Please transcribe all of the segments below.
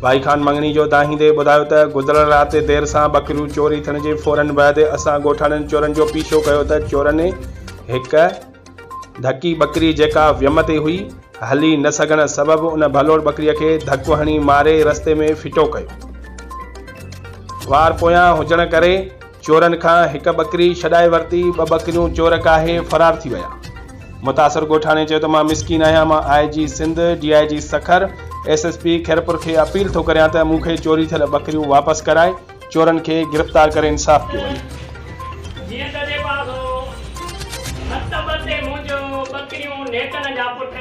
ڀائي خان مڱڻي جو دانهيندي ٻڌايو ته گذريل رات دير سان ٻڪريون چوري ٿيڻ جي فورن بعد اسان ڳوٺاڻن چورن جو پيڇو ڪيو ته چورن هڪ ڌڪي ٻڪري جيڪا ويم تي هئي هلي نه سگهڻ سبب ان ڀلوڙ ٻڪريء کي ڌڪ هڻي ماري رستي ۾ ڦٽو ڪيو. وار پويان هجڻ ڪري چورن کان هڪ ٻڪري ڇڏائي ورتي، ٻه ٻڪريون چور ڪاهي فرار ٿي ويا. متاثر ڳوٺاڻي چيو ته مان مسڪين آهيان، مان I G Sindh, D I G Sukkur, S S P Khairpur کي اپيل ٿو ڪريان ته مون کي چوري ٿيل ٻڪريون واپس ڪرائي چورن کي گرفتار ڪري انصاف ڪيو وڃي. جيئن ته ڏي پاسو هٿ ٻه تي منهنجو ٻڪريون نيٽن جا پٽ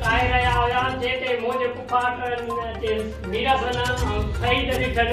ڪاهي رهيا هيا، جنهن تي منهنجي ڦوڦاٽن جي ميرحسن ۽ سعيد ڏٺن.